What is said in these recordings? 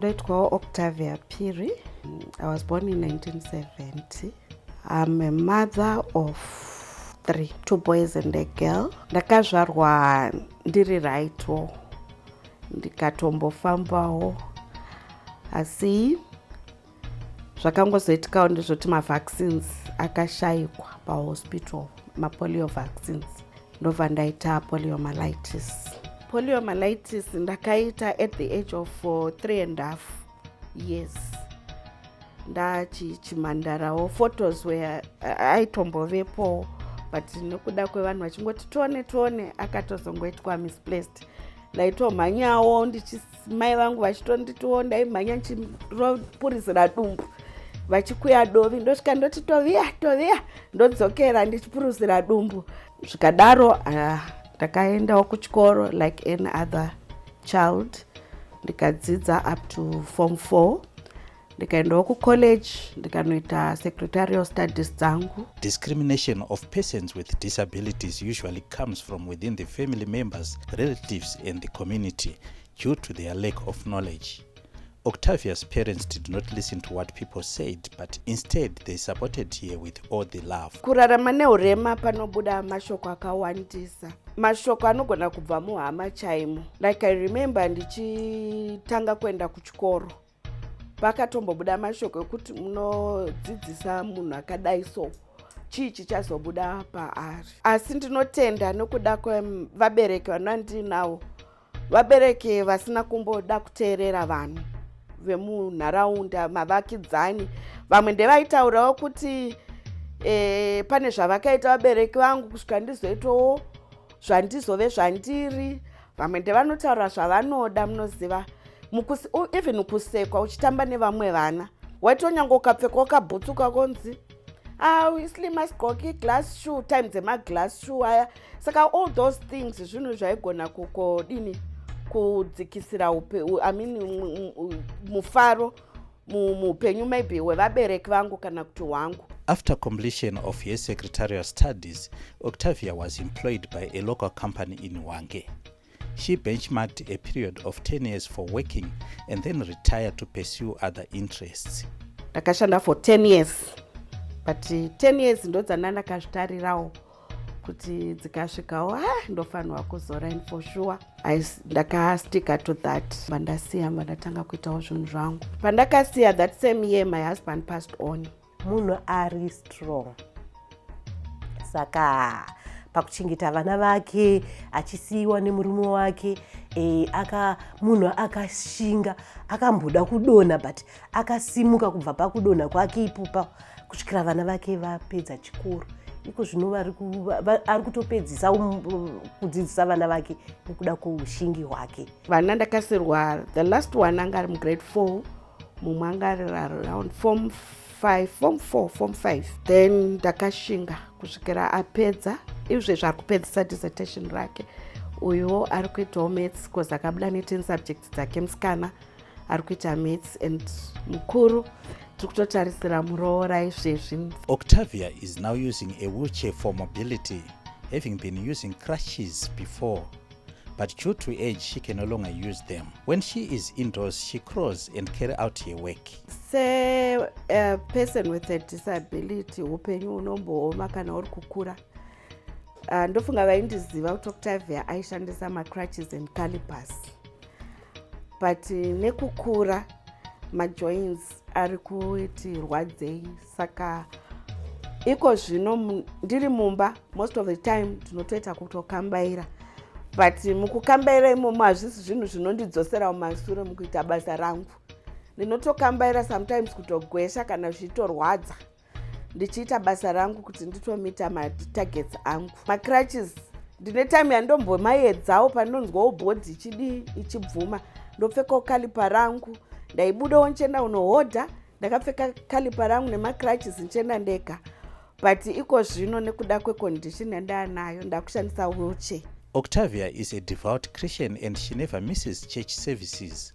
Ndoitwawo Octavia Phiri. I was born in 1970. I'm a mother of three, two boys and a girl. Ndakazvarwa ndiri rightwo ndikatombofambawo asi zvakangozoitikawo ndezvoti mavaccines akashaikwa pahospital mapolio vaccines ndobva ndaita poliomyelitis poliomyelitis ndakaita at the age of uh, three and half years ndachimhandarawo photos where uh, aitombovepo but nekuda kwevanhu vachingoti tione tione akatozongoitwa misplaced ndaitomhanyawo ndichi mai vangu vachitonditiwo ndaimhanya ndichiropurizira dumbu vachikuya dovi ndosvika ndoti toviya toviya ndodzokera ndichipuruzira dumbu zvikadaro ah, ndakaendawo uh, kuchikoro like any other child ndikadzidza up to form four ndikaendawo kucollege ndikanoita secretarial studies dzangu discrimination of persons with disabilities usually comes from within the family members relatives and the community due to their lack of knowledge octavia's parents did not listen to what people said but instead they supported here with all the love kurarama neurema panobuda mashoko akawandisa mashoko anogona kubva muhama chaimo like i remember ndichitanga kuenda kuchikoro pakatombobuda mashoko ekuti munodzidzisa munhu akadai so chii chichazobuda paari asi ndinotenda nokuda kwevabereki vanandinawo vabereki vasina kumboda kuteerera vanhu vemunharaunda mavakidzani vamwe ndevaitaurawo kuti e, pane zvavakaita vabereki vangu kusvika ndizoitawo zvandizove zvandiri vamwe ndevanotaura zvavanoda munoziva mukusi even kusekwa uchitamba nevamwe vana waitonyange ukapfeka ukabhutsuka konzi auslima ah, sigqoki glass shoe time dzemaglass shoe aya saka all those things zvinhu zvaigona kukodini kudzikisira upe i mean mufaro muupenyu maybe hwevabereki vangu kana kuti hwangu After completion of her secretarial studies, Octavia was employed by a local company in Hwange. She benchmarked a period of 10 years for working and then retired to pursue other interests. Ndakashanda for 10 years but 10 years ndodzana ndakazvitarirawo kuti dzikasvikawo ha ndofanirwa kuzora in for sure ndakasticka to that pandasiya pandatanga kuitawo zvinhu zvangu pandakasiya that same year my husband passed on munhu ari strong saka pakuchengeta vana vake achisiyiwa nemurume wake e, aka munhu akashinga akamboda kudonha but akasimuka kubva pakudonha kwake ipopa kusvikira vana vake vapedza chikoro iko zvino ari kutopedzisa um, um, kudzidzisa vana vake nekuda kweushingi hwake vana ndakasirwa the last one anga ari mugrade four mumwe anga ari around form five form four form five then ndakashinga kusvikira apedza izve zvaari kupedzisa dissertation rake uyuwo ari kuitawo mats bcause akabuda netin subjects dzake musikana ari kuita maths and mukuru tiri kutotarisira muroora izvezvi octavia is now using a wheelchair for mobility having been using crushes before but due to age she can no longer use them when she is indoors she crawls and carry out her work se uh, person with a disability upenyu unombooma kana uri kukura uh, ndofunga vaindiziva kuti octavia aishandisa macrutches and calipers but nekukura majoins ari kuti rwadzei saka iko zvino ndiri mumba most of the time ndinotoita kutokambaira but mukukambaira imomo hazvisi zvinhu zvinondidzoserawo masure mukuita basa rangu ndinotokambaira sometimes kutogwesha kana zvichitorwadza ndichiita basa rangu kuti nditomita matargets angu macratches ndine time yandombomayedzawo pandinonzwawo bhodhi ichidii ichibvuma ndopfekawo kalipa rangu ndaibudawo ndichienda unohodha ndakapfeka kalipa rangu nemacratches ndichienda ndega but iko zvino nekuda kwecondition yandaanayo ndakushandisa wheelchair Octavia is a devout Christian and she never misses church services.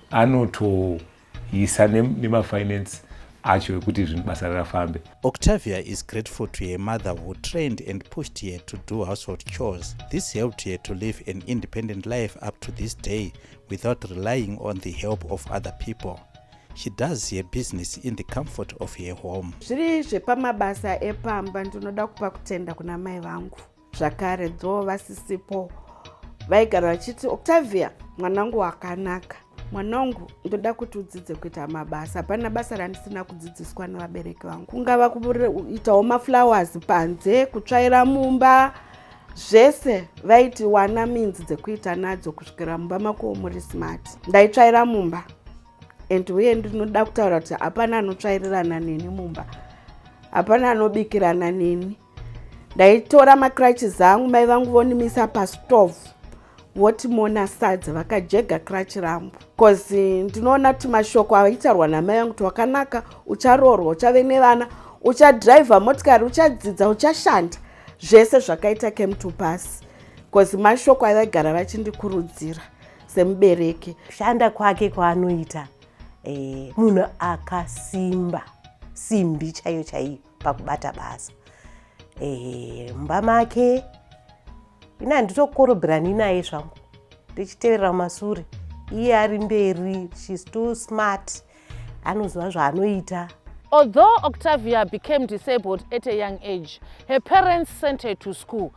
anotoisa nemafinance acho ekuti zvinhu basa rafambe octavia is grateful to her mother who trained and pushed her to do household chores this helped her to live an independent life up to this day without relying on the help of other people she does her business in the comfort of her home zviri zvepamabasa epamba ndinoda kupa kutenda kuna mai vangu zvakare dho vasisipo vaigara vachiti octavia mwanangu wakanaka mwanangu ndoda kuti udzidze kuita mabasa hapana basa randisina kudzidziswa nevabereki vangu kungava kuitawo maflowers panze kutsvaira mumba zvese vaiti wana minzi dzekuita nadzo kusvikira mumba makowo muri smart ndaitsvaira mumba and uye ndinoda kutaura kuti hapana anotsvairirana neni mumba hapana anobikirana neni ndaitora macrutches angu mai vangu vonimisa pastove voti mona sadza vakajega crutch rambo bcaus ndinoona kuti mashoko aitaurwa namai vangu kuti wakanaka ucharoorwa uchave nevana uchadriver motikari uchadzidza uchashanda zvese zvakaita came to pass bcaus mashoko avaigara vachindikurudzira semubereki kushanda kwake kwaanoita e, munhu akasimba simbi chaiyo chaiyo pakubata basa ehe mumba make ini handitokorobirani naye zvangu ndichiteverera masure iye ari mberi shes too smart anoziva zvaanoita Although Octavia became disabled at a young age, her parents sent her to school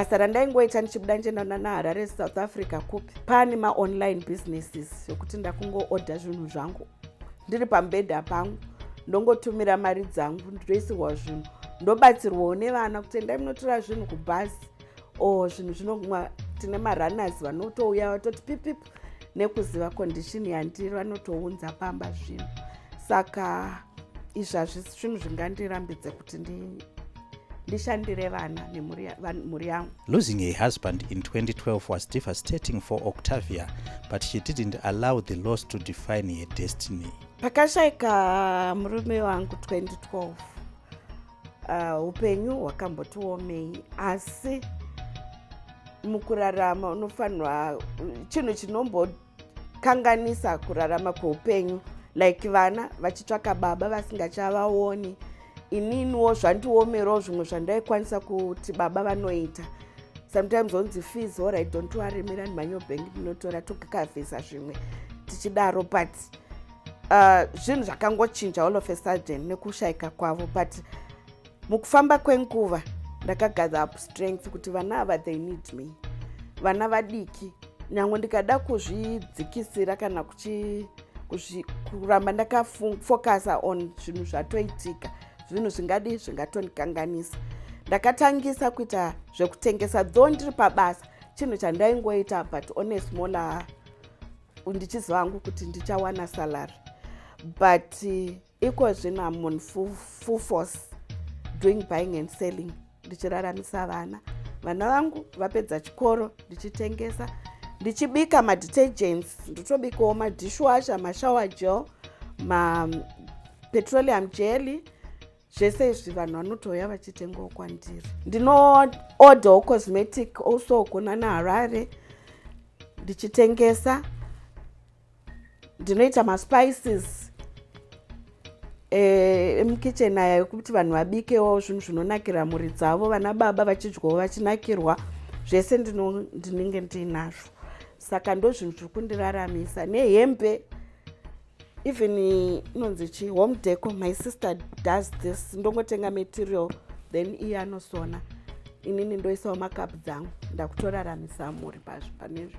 basa randaingoita ndichibuda ndichienda nana harare south africa kupi pane maonline businesses zvekuti ndakungoodha zvinhu zvangu ndiri pambedha pangu ndongotumira mari dzangu nditoisirwa zvinhu ndobatsirwawo nevana kuti endai munotora zvinhu kubhazi o oh, zvinhu zvinoguma tine marunners vanotouya vatoti pipip nekuziva condition yandiri vanotounza pamba zvinhu saka izvi hazvisi zvinhu zvingandirambidze kuti ndi ndishandire vana nemhuri yangu losing a husband in 2012 was devastating for octavia but she didn't allow the loss to define her destiny pakashaika murume wangu 2012 uh, upenyu uh, hwakambotiomei asi mukurarama unofanirwa chinhu kanganisa kurarama kweupenyu like vana vachitsvaka baba vasingachavaoni ininiwo zvandiomerawo zvimwe zvandaikwanisa kuti baba vanoita sometimes onzi fees ora don't worry mirani manyobhengi ndinotora tokakavhisa zvimwe tichidaro but uh, zvinhu uh, zvakangochinja all of a sudden nekushayika kwavo but mukufamba kwenguva ndakagather up strength kuti vana ava they need me vana vadiki nyange ndikada kuzvidzikisira kana kuchi kuramba ndakafocusa on zvinhu zvatoitika zvinhu zvingadi zvingatondikanganisa ndakatangisa kuita zvekutengesa dho ndiri pabasa chinhu chandaingoita but on a smaller ndichiziva hangu kuti ndichawana salary but Ikozvino I'm on full, full force doing buying and selling ndichiraramisa vana. Vana vangu vapedza chikoro ndichitengesa ndichibika madetergents ndotobikawo madishwasher mashower gel mapetroleum jelly zvese izvi vanhu vanotouya vachitengawo kwandiri ndinoorderwo cosmetic also kunana harare ndichitengesa ndinoita maspices eh, emukitchen e, aya ekuti vanhu vabikewo zvinhu zvinonakira mhuri dzavo vana baba vachidyawo vachinakirwa zvese ndinenge ndiinazvo saka ndo zvinhu zviri kundiraramisa nehembe even inonzi chi home deco my sister does this ndongotenga material then iye anosona inini ndoisawo makapu dzangu ndakutoraramisa mhuri pazvo panezvo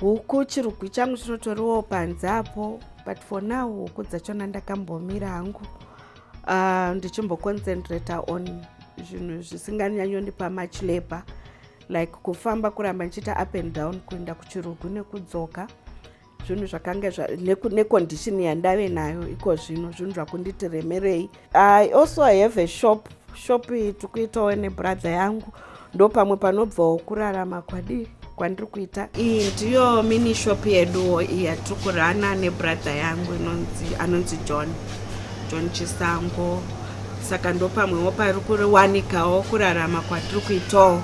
huku chirugwi changu chinotoriwo panze apo but for now huku dzachona ndakambomira hangu uh, ndichimboconcentrata on zvinhu zvisinganyanyondipa much labor like kufamba kuramba ndichiita up and down kuenda kuchirugu nekudzoka zvinhu zvakanga necondition yandave nayo iko zvino zvinhu zvakunditi remerei I also I have a shop shop iyi tiri kuitawo nebrother yangu ndo pamwe panobvawo kurarama kwadii kwandiri kuita iyi ndiyo mini shop yeduwo iyi yatiri kurana nebrother yangu inonzi anonzi john john chisango saka ndo pamwewo pari kuwanikawo kurarama kwatiri kuitawo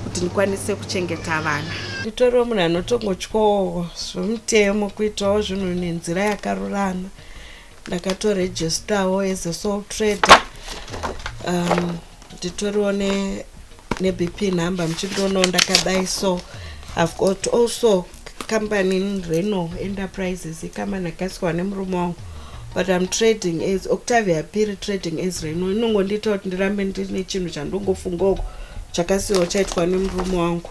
kuti ndikwanise kuchengeta vana nditoriwo munhu anotongotyawo zvomutemo kuitawo zvinhu nenzira yakarurama ndakatoregistawo as a sole trader um, nditoriwo ne, nebp number muchindionawo ndakadai so i've got also company in reno enterprises icompany akasiwa nemurume wangu but i'm trading as octavia piri trading as reno inongondiita kuti ndirambe ndine chinhu chandongofunga uko chakasiwa chaitwa nemurume wangu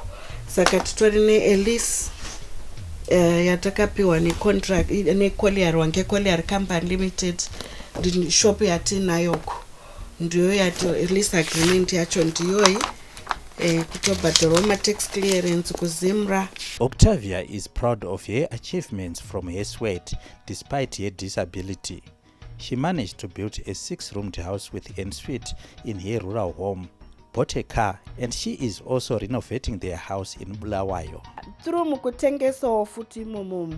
saka titori neelease uh, eh, yatakapiwa necontract necolear wange colear company limited shop yatinayoko ndiyo yato release agreement yacho ndiyoyi eh, kutobhadharwa matax clearance kuzimra octavia is proud of her achievements from her sweat despite her disability She managed to build a six-roomed house with en suite in her rural home, bought a car, and she is also renovating their house in Bulawayo. Tiri mukutengesawo futi imomo.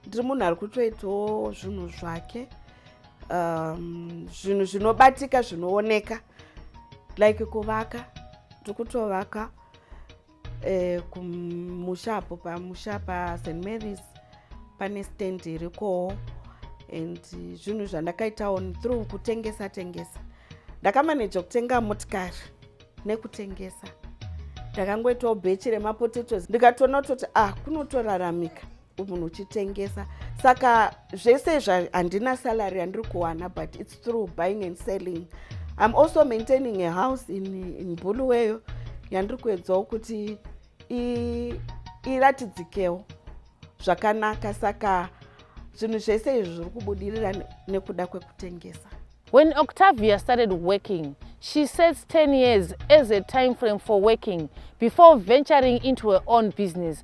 Ndiri munhu ari kutoitawo zvinhu zvake. Um, zvinhu zvinobatika zvinooneka like kuvaka tiri kutovaka Eh, kumusha apo pamusha paSt Mary's pane stand irikowo and zvinhu zvandakaitawo through kutengesa tengesa ndakamaneja kutenga motikari nekutengesa ndakangoitawo bhechi remapotatoes ndikatoona kutoti ah kunotoraramika munhu uchitengesa saka zvese izvi handina salary yandiri kuwana but its through buying and selling im also maintaining a house in, in buluweyo yandiri kuedzawo kuti iratidzikewo zvakanaka saka zvinhu zvese izvi zviri kubudirira nekuda kwekutengesa when octavia started working she sets 10 years as a time frame for working before venturing into her own business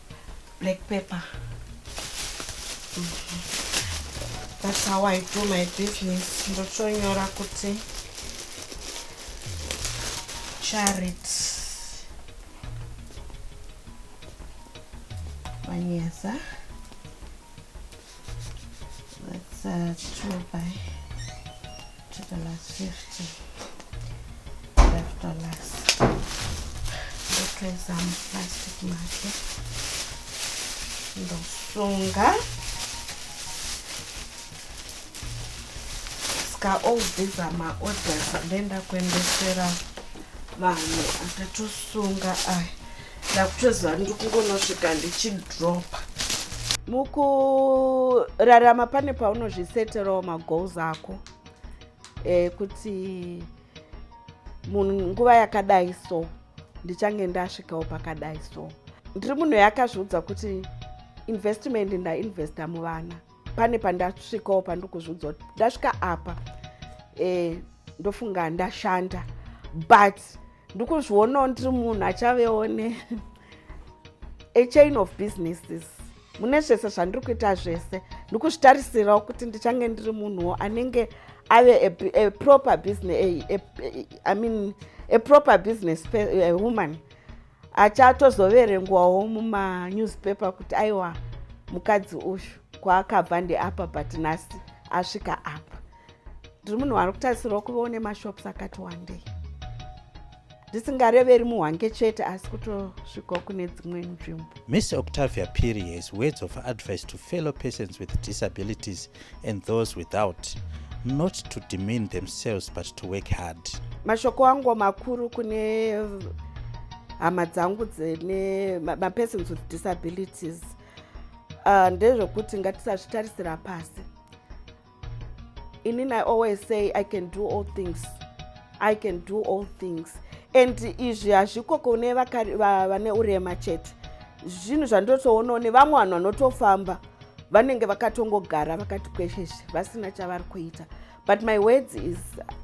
black pepper mm -hmm. that's how i do my business ndotonyora kuti charit manyeza That's uh, 2 by to the last 50. Left or last. Look at some plastic market. Ndosunga. Ska all these are my orders. Ndenda kuendesera vanhu akatosunga aya. ndakutoziva ndiri kungonosvika ndichidropa mukurarama pane paunozviseterawo magoals ako e, kuti munhu nguva yakadai so ndichange ndasvikawo pakadai so ndiri munhu yakazviudza kuti investment ndainvesta muvana pane pandasvikawo pandiri kuzviudza kuti ndasvika apa e, ndofunga ndashanda but ndikuzvionawo ndiri munhu achavewo ne a chain of businesses mune zvese zvandiri kuita zvese ndikuzvitarisirawo kuti ndichange ndiri munhuwo anenge ave a, a, a proper business a, a, a, I mean, a proper business a woman achatozoverengwawo mumanewspaper kuti aiwa mukadzi uyu kwaakabva ndeapa but nhasi asvika apa ndiri munhu wari kutarisirwa kuva une mashops akati wandei ndisingareveri muhwange chete asi kutosvikawo kune dzimwe nzvimbo miss octavia piri has words of advice to fellow persons with disabilities and those without not to demean themselves but to work hard mashoko angu makuru kune hama dzangu dzine mapersons with disabilities uh, ndezvekuti ngatisazvitarisira pasi Inin I always say I can do all things. I can do all things. And izvi hazviko kune vane urema chete. Zvinhu zvandotoonawo nevamwe vanhu vanotofamba vanenge vakatongogara vakati kwesheshe vasina chavari kuita. But my words is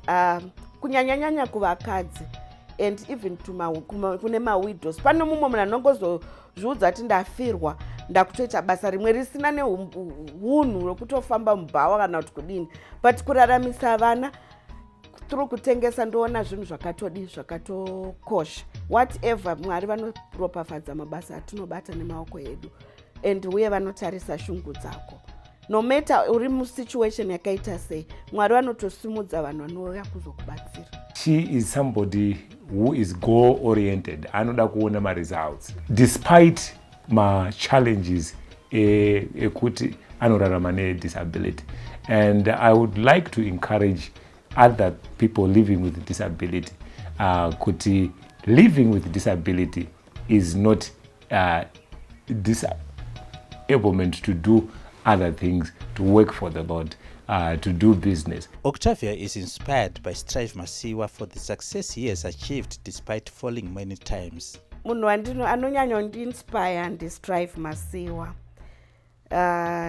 uh, kunyanyanyanya kuvakadzi and even kune mawidows. Pano mumwe munhu anongozo zviudza ati ndafirwa ndakutoita basa rimwe risina neunhu rwekutofamba mubhawa kana kuti kudini but kuraramisa vana tiri kutengesa ndoona zvinhu zvakatodii zvakatokosha whatever mwari vanoropafadza mabasa atinobata nemaoko edu and uye vanotarisa shungu dzako no matter uri musituation yakaita sei mwari vanotosimudza vanhu vanouya kuzokubatsira she is somebody who is goal oriented anoda kuona maresults despite machallenges e, ekuti e anorarama nedisability and i would like to encourage other people living with disability uh, kuti living with disability is not uh, disablement to do other things to work for the lord uh, to do business octavia is inspired by strive masiwa for the success he has achieved despite falling many times munhu wandino anonyanya kundiinspire ndistrive masiwa uh,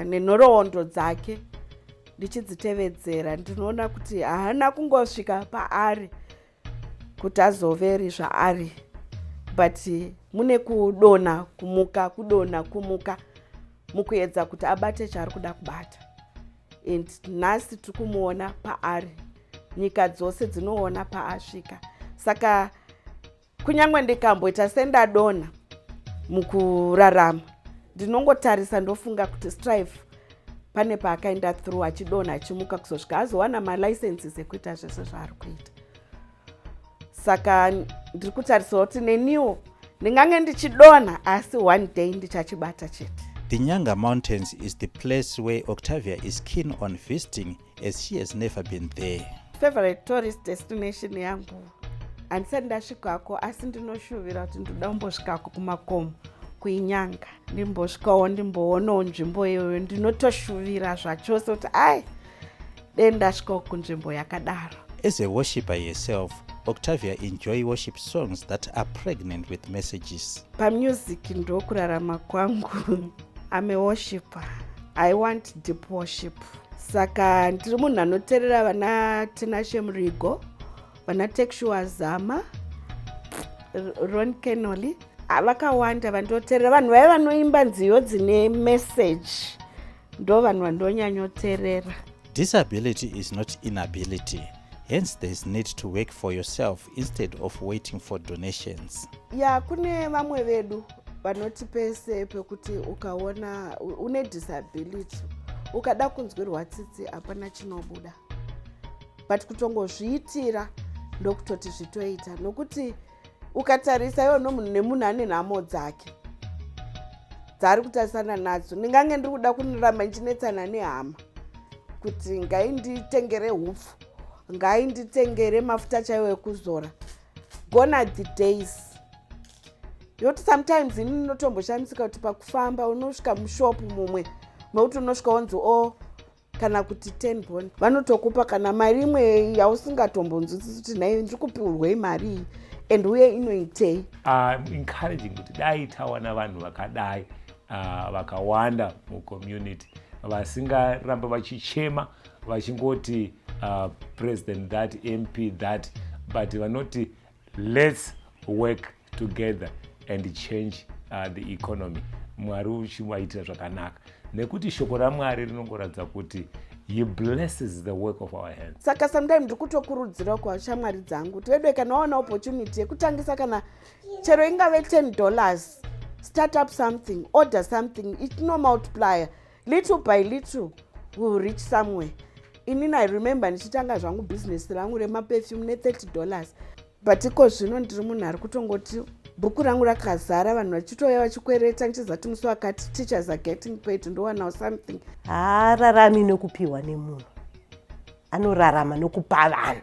nenhoroondo dzake ndichidzitevedzera ndinoona kuti haana kungosvika paari kuti azoveri zvaari but mune kudona kumuka kudona kumuka mukuedza kuti abate chaari kuda kubata and nhasi tiri kumuona paari nyika dzose dzinoona paasvika saka kunyange ndikamboita sendadonha mukurarama ndinongotarisa ndofunga kuti strive pane paakaenda through achidonha achimuka kuzosvika azowana malicenses ekuita zvese zvaari kuita saka ndiri kutarisawo kuti neniwo ndingange ndichidonha asi one day ndichachibata chete the nyanga mountains is the place where octavia is keen on visiting as she has never been there favorite tourist destination yangu handisati ndasvikako asi ndinoshuvira kuti ndoda kumbosvikako kumakomo kuinyanga ndimbosvikawo ndimboonawo nzvimbo iyoyo ndinotoshuvira zvachose kuti ai dei ndasvikawo kunzvimbo yakadaro as a worshiper yourself octavia enjoy worship songs that are pregnant with messages pamusic ndokurarama kwangu ame worshiper i want deep worship saka ndiri munhu anoterera vana tinashe murigo vana texua zama ron kenoli ah, vakawanda vandoterera vanhu vaya vanoimba nziyo dzine meseji ndo vanhu vandonyanyoterera disability is not inability hence there is need to work for yourself instead of waiting for donations ya kune vamwe vedu vanoti pese pekuti ukaona une disability ukada kunzwirwa tsitsi hapana chinobuda but kutongozviitira ndokutoti zvitoita nokuti ukatarisa iwo nomunhu nemunhu ane nhamo dzake dzaari kutarisana nadzo ndingange ndiri kuda kuniramba ndichinetsana nehama kuti ngai nditengere hupfu ngai nditengere mafuta chaiwo ekuzora gona the days yoti sometimes ini ndinotomboshamisika kuti pakufamba unosvika mushopu mumwe mekuti unosvika wonzi o oh, kana kuti ten bon vanotokupa kana mari imwe yausingatombonzwisisi kuti nhai ndiri kupiurwei mari iyi and uye inoitei ah, encouraging kuti dai tawana vanhu vakadai ah, vakawanda mucommunity vasingaramba vachichema vachingoti ah, president that mp that but vanoti Let's work together and change uh, the economy mwari uchivaitira zvakanaka nekuti shoko ramwari rinongoratidza kuti he blesses the work of our hands saka sometime ndiri kutokurudzira kwashamwari dzangu tivedwe kana waona opportunity yekutangisa kana chero ingave 10 dollars start up something order something it no multiplier little by little will reach somewhere inini i remember ndichitanga zvangu bhizinesi rangu remaperfume ne30 dollars but iko zvino ndiri munhu ari kutongoti bhuku rangu rakazara vanhu vachitouya vachikwereta ndichizati musi wakati teachers are getting paid ndowanawo something haararami nokupiwa nemunhu anorarama nokupa vanhu